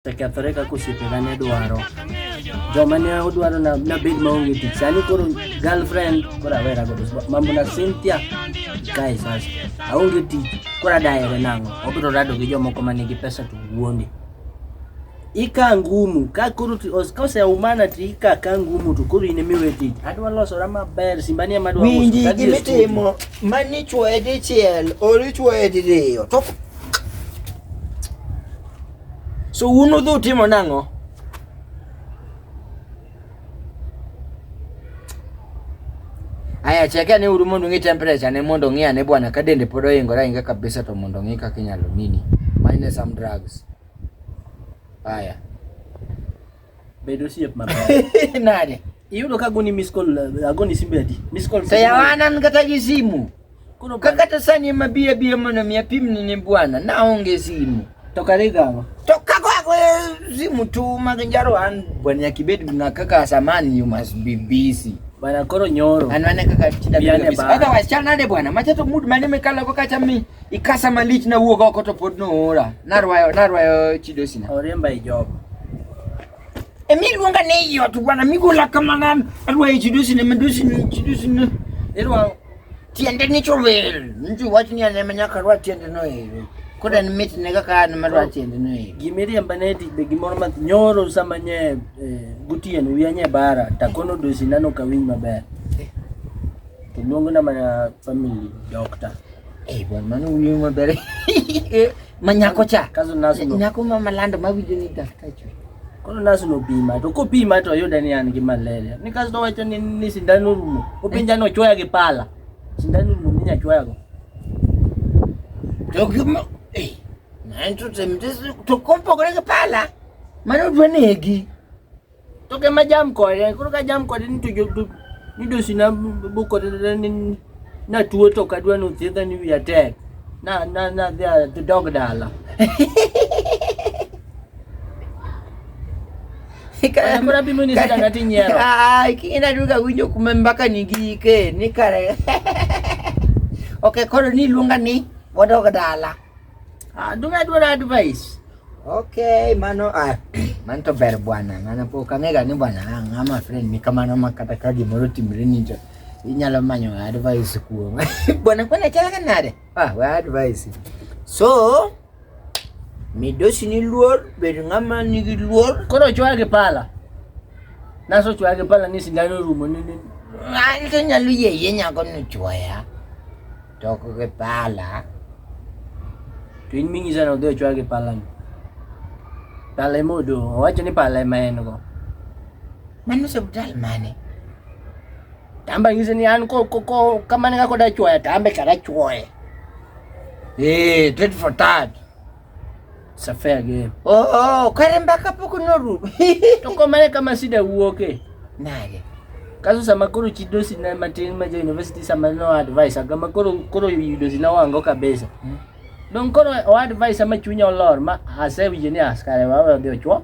osekethore kaka osiepena ne dwaro joma ne odwaro nabed maonge tich sani koro girlfriend koro awera godo mambo na cynthia kae sasa aonge tich koro adahere nang'o obiro rado gi jomoko ma nigi pesa to wuonde ika ngumu ka koro ka oseumana to ika ka ngumu to koro in emiwe tich adwa losora maber simbani ema dwa winji gimitimo mani chwoye dichiel ori chwoye diriyo So un udhi utimo nang'o? Aya, cheke ane uru mondo ung'e temperature ne mondo ung'e ane bwana ka dende pod oingore ahinga kabisa to mondo ung'e kaka inyalo nini. Mine some drugs. Aya. Bedo osiep maber. Nade? Iyudo ka goni miss call eh, agoni simbe adi? Miss call. Saya wanan kata gi simu. Koro ka kata sani ma biya biya mono mi apimni ni bwana na onge simu. To kare gawa. To kako ako simu tu mag njaro an bwana kibet na kaka samani you must be busy. Bana koro nyoro. Anwane kaka chida. Otherwise chal nade bwana. Machato mood mane mekala kwa kacha mi. Ikasa malich na wuog oko to pod noora. Narwayo narwayo chidosi na. Oriemba e job. E mi luonga ne iyo to bwana mi gola kamana arwayo chidosi na madosi na chidosi na. Erwa tiende ni chowel. Nju wach ni ane manyaka rwa tiende no ero. Koda ni mit ne kaka an marwa tiende no ero. Gimiriemba ne ti be gimoro ma nyoro sama nye eh, gutien wiya nye bara takono dosi nano kawinj maber. To luongo na mana family doctor. Eh, bwana mano uyo maber. Eh, manyako cha. Kazo naso no. Nyako ma malando mawinjo ni daktar chwe. Kono naso no pima to ko pima to yudo ni an gi malaria. Ni kaso wacho ni ni sindan rumo. Opinja no chwaya gi pala. Sindan rumo ni nya chwaya go. To gimo eh nanto temtes to kompogore gi pala. Mano dwa negi. To ke majam kode, koro ka jam kode ni to jo to midosi na bu kode na- ni- na tuo to kadwa ni othiedha ni wiya tek. Na na na dhi a- dhi dog dala. Kaya kura bimo ni sida nati nyero. Ai, kina duka winjo kuma mpaka nigike ni kare. Okay, koro ni luonga ni wadog dala. Adunga dwaro advice. Okay, mano ah, mano to ber bwana. Ng'ana pok ang'ega ni bwana ah, ng'ama friend ni kamano ma kata ka gimoro timre ni to inyalo manyo advice kuom. Bwana kwani chal ka nade? Ah, we advice. So, midosi ni luor, bed ng'ama nigi luor. Koro chwagi pala. Naso chwagi pala ni sindano rumo ni ni. Ng'ato nyalo yeye nyako ni chwaya. Toko ke pala. To in minyisa ni odhi ochwal gi pala ni. Pala ema odong'. Owacho ni pala ema en go. Mano osiptal mane? Tamba nyise ni an ko ko ko kamane kako da chwoya tambe kada chwoye. Eh, tit for tat. Safe again. Oh, oh, kare mbaka pok norumo. To komane kama shida wuoke. Nage. Kaso sama koro chidosi na matin ma jo university sama no advice aga ma koro koro yudosi na wango kabisa. Hmm. Don koro o advice ama chunya olor ma asewinjo ni askare wawe odhi ochwo.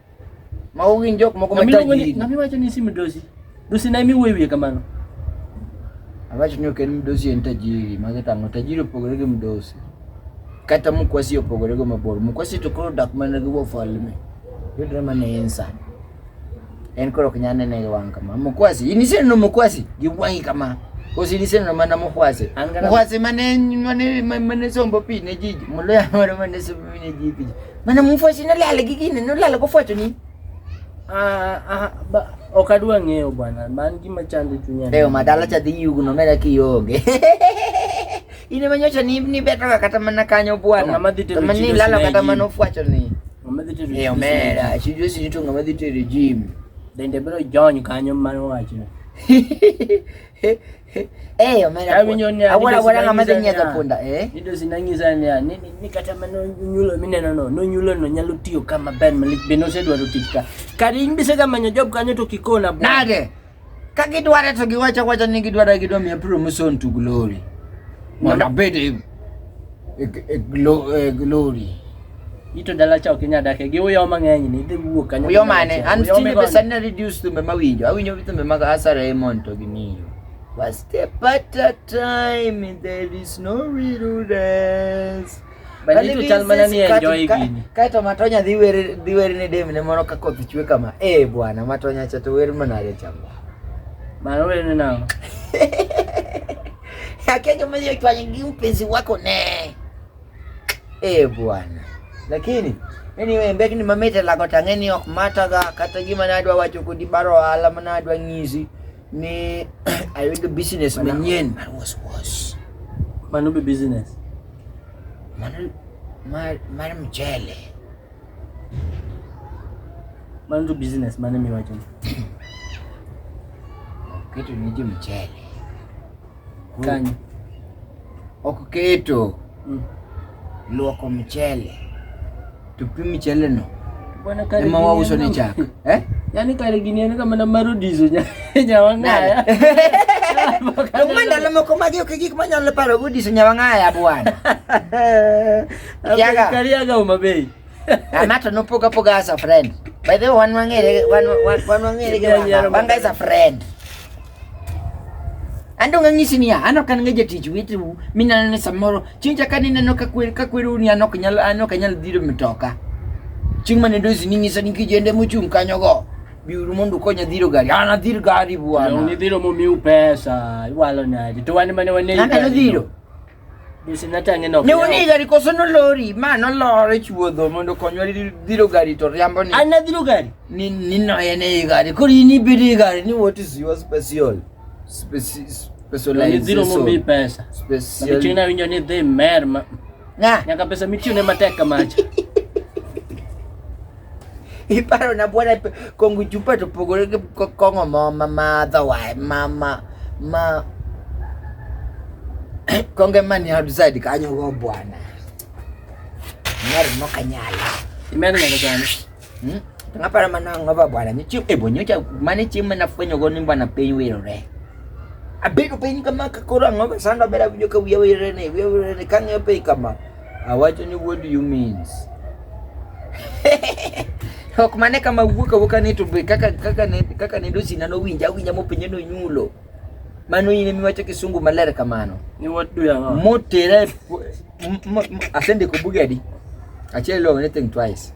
Mago gin jok moko ma tayo ji. Ng'ama iwacho ni si midosi? Dosi na imi wuoyo wiye kamano. Awacho ni ok en midosi en tajiri, mage tang'o. Tajiri opogore gi midosi. Kata mkwasi opogore gi mabor. Mkwasi to koro dak mana gi wafalme. Yudre mana en sa. En koro ok nyal nene gi wang' kama. Mkwasi, in iseneno mkwasi gi wang'i kama. Kosi in iseneno mana mkwasi. Mkwasi mane mane mane sombo pi ne jiji. Moloya moro mane sombo pi ne jiji. Mana mufwachi nolala gi gini, nolala kofwacho nini? Ah, ah, ba, ok adwa ng'eyo bwana, man gima chando chunya. Leo madala cha dhi yugo no mera kionge. Ine manyocha ni ni beto kata mana kanyo bwana. Ng'ama dhi tero Mani chido lala kata sinegi. mana ofwacho ni. Ng'ama dhi tero Leo chido mera, sijui sijui to ng'ama dhi tere gym. sinegi. Dende biro jony kanyo mano wachno. Eh, yo mera. Kami nyoni ya. Awala wala ngama tenya to punda, eh. Nido sinangi zani ya. Ni ni kata mano nyulo mine no no. No nyulo no nyalo tiyo kama ben malik beno se dwaro tikka. Kari imbi se kama nyojob kanyo to kikona bwana. Nade. Kaki dwara to giwacha wacha ni gidwara gidwa mi apro muson to glory. Mwana bede. E, e, e, e glory. Ito dala cha ok inyal dake gi uyo mang'eny ni idhi wuok kanyo. Uyo mane? An tinde be sani na reduce thumbe mawinjo. Awinjo thumbe mag Asa Raymond to gi Miyo. Was the better time there is no real rest. Banditu chal mana ni enjoy gini. Kae to Matonya dhi wer dhi wer ne dem ne moro ka koth chwe kama. Eh bwana Matonya cha to wer mana re chama. Mano wer ne nao. Hakika mwenye kwa nyingi mpenzi wako ne. Eh bwana. Lakini anyway mbeki ni mamete la kotangeni ok mata ga kata gima nadwa wacho kodi baro ala manadwa ng'izi ni I will do business manyien. I was was. Mano be business. Mano mar mar mchele. Mano business mane miwacho. Kitu ni mchele. Kanyo. Ok keto Mm. luoko mchele. Tupi mchele no. Bwana kare. Ema wauso ni chak. Eh? Yaani kare gini en kama na maro dizo nya nyawang'aya. Kuma ndalo moko magi ok gik manyalo paro go diso nyawang'aya bwana. Kiaga. Kari aga uma bei. Amato no poga poga as a friend. By the way, wan wang'ere wan wan wang'ere ga. Wanga is a friend. Ando ng'anyisi ni ano kan ngeje tich witu minano ne samoro chinja kan ineno ka kwer ka kweru ni ano kanyal ano kanyal dhiro mitoka. Ching mane dozi ni ngisa ni kijende muchung kanyo go. Biuru mundu konya dhiro gari. Ana dhiro gari buana. Ni dhiro mo miu pesa. Iwalo nadi. To wani mane wane. Ana dhiro. ne waniga ni koso nolori ma nolor e chuodho mondo konywa dhiro gari to riambo ni an nadhiro gari ni ni no en e gari koro in ibedo e gari ni what is your special Speci specialization dhiro mo mi pesa special mi china winjo ni dhi mer ma nyaka pesa mitiyo ne matek kamacha Iparo na bwana kongo chupa to pogore gi kongo mo ma madho wae ma ma ma konge mani outside kanyo go bwana. Ngari mo kanyala. Imani ngani gani? Hmm? Ngapara mana ngova bwana ni chiu ebo nyocha mani chiu mana fwenyo go ni bwana piny wirore. Abedo piny kama kakoro angova sando bera winyo ka wiya wirore ne wiya wirore ne kang'eyo piny kama. Awacho ni what do you means? ok mane kama wuok awuoka ni to be kaka kaka ne kaka ne dosi nano winja winja mopenye no nyulo mano ine miwacho kisungu maler kamano ni what do you want motere asende ko bugedi achiel lo anything twice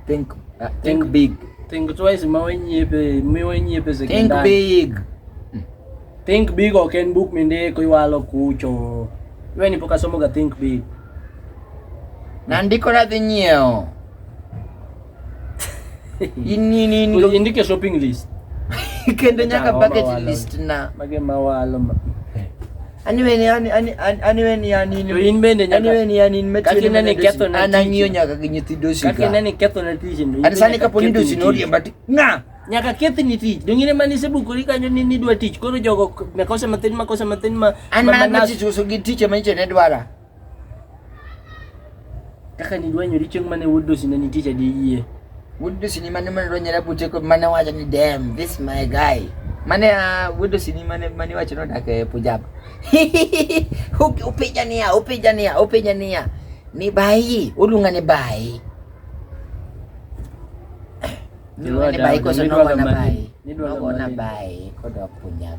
Think, uh, think, think big. Think twice ma wenyiepe, mi wenyiepe sekondari. Think big. Think big ok en buk mindiko iwalo kucho. Iwe ni pok asomo ga think big. Nandiko nadhi nyiewo. In in in. Indike shopping list. Kendo nyaka budget list na. Mage mawalo ma. Ani wen yani ani ani wen yani ni. In bende nyaka. Ani wen yani in mechi. Kaki nani ketho na. Ana ngiyo nyaka gi nyithindo shika. Kaki nani ketho na tich ni. Ani sani kapo ni dosi no riemba ti. Nga. Nyaka kethi ni tich. Dongine mani se bukuri kanyo ni ni dwa tich. Koro jogo makosa matin makosa matin ma. Ana ma tich uso gi tich ma ichene dwara. Kaka nidwanyori chieng' mane wuod dosine nitie cha gi yie. Wuod dosini mane mane dwanyore buche ko mane wacho ni dem this my guy. Mane ah, wuod dosini mane mane wacho ni odak e Punjab. Upi- Upija niya, upija niya, upija niya. Ni bayi, oluonga ni bayi. Oluonga ni bayi koso nogona bayi. Nogona bayi kodok Punjab.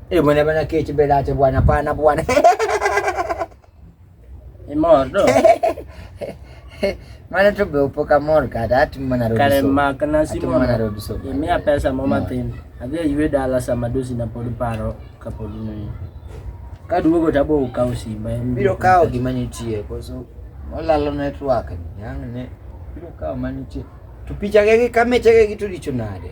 Eh, mwana bana kechi belache bwana pana bwana. Imor do. Mana tu beupo ka mor ka da tu mana rodo. Kale ma kana si mor. Mana rodo so. Imi a pesa mo matin. Adhi ywe dala sama dosi na pod paro ka pod ni. Ka duogo ta bo kawo simba. Biro kawo gima nitie koso. Olalo network. Yang ne. Biro kawo manitie. To picha ge gi kameche ge gi to richo nade?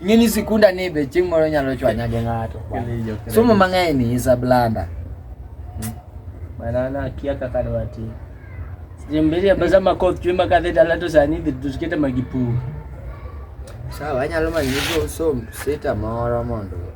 Ing'e ni sikunda ni be chieng' moro nyalo chwanya gi ng'ato. Somo mang'eny ni is a blunder. Banana kia kaka dwa ti. Jimbiri abaza makoth chwe makadhe dala to sani dhi to sikete magipur. Sawa, anyalo manyo somo sita moro mondo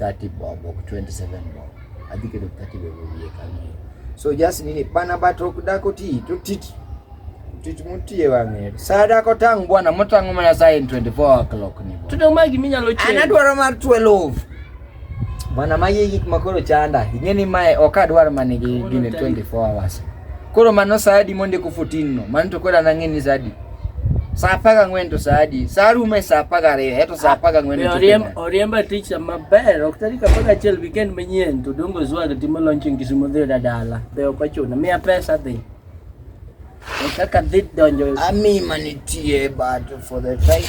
30 bob ok 27 bob adhi keto 30 bob wiye kanyo so just nini bana but ok dako ti to tich tich mutie wang'e saa dako tang' bwana motang'o mana saa in 24 o'clock ni bwana tudong magi minyalo chiew an adwaro mar 12 bwana magi gik makoro chanda ing'e ni mae ok adwar manigi gine 24 hours koro mano saa adi mondiko 14 no mano to koro an ang'e ni saa adi sapaga ng'wen to sa adi sa rume sa apar gariyo eto sa apar gang'wen Be oriem- oriemba ticha maber ok tarik apar gachiel weekend manyien to dongo zwaga timo launch in kisumo dhi yuda dala be ok ochuno miya pesa dhi E kaka dhi donjo ami manitie but for the time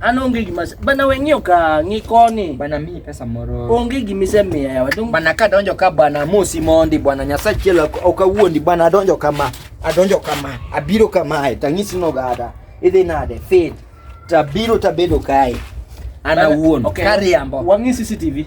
An onge gima se- bana we ng'iyo ka ng'i koni. Bana miyi pesa moro. Onge gima isemiya yawa. Dong- Bana ka donjo ka bana amosi mondi bwana Nyasaye chielo ok- ok awuondi bwana adonjo kama. Adonjo kama. Abiro kamae tang'isi nogada. Idhi nade? Fed. Tabiro tabedo kae. An Bana- awuon. okay, Kariambo. Wang'i CCTV.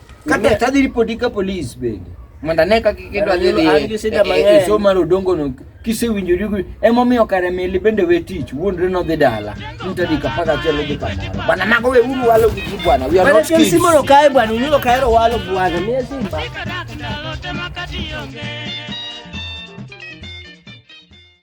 Kata tadhi ripoti ka polis bende mondo ane kaka kendo adhi dhi e, e, e somo mar odongono kisewinjori emomiyo kare mili bende we tich wuondre nodhi dala mtadika paka achiel odhi kamoro bwana mago we uru walo gi ji bwana we are not kids simono kae bwana unyulo kaero walo bwana mie simba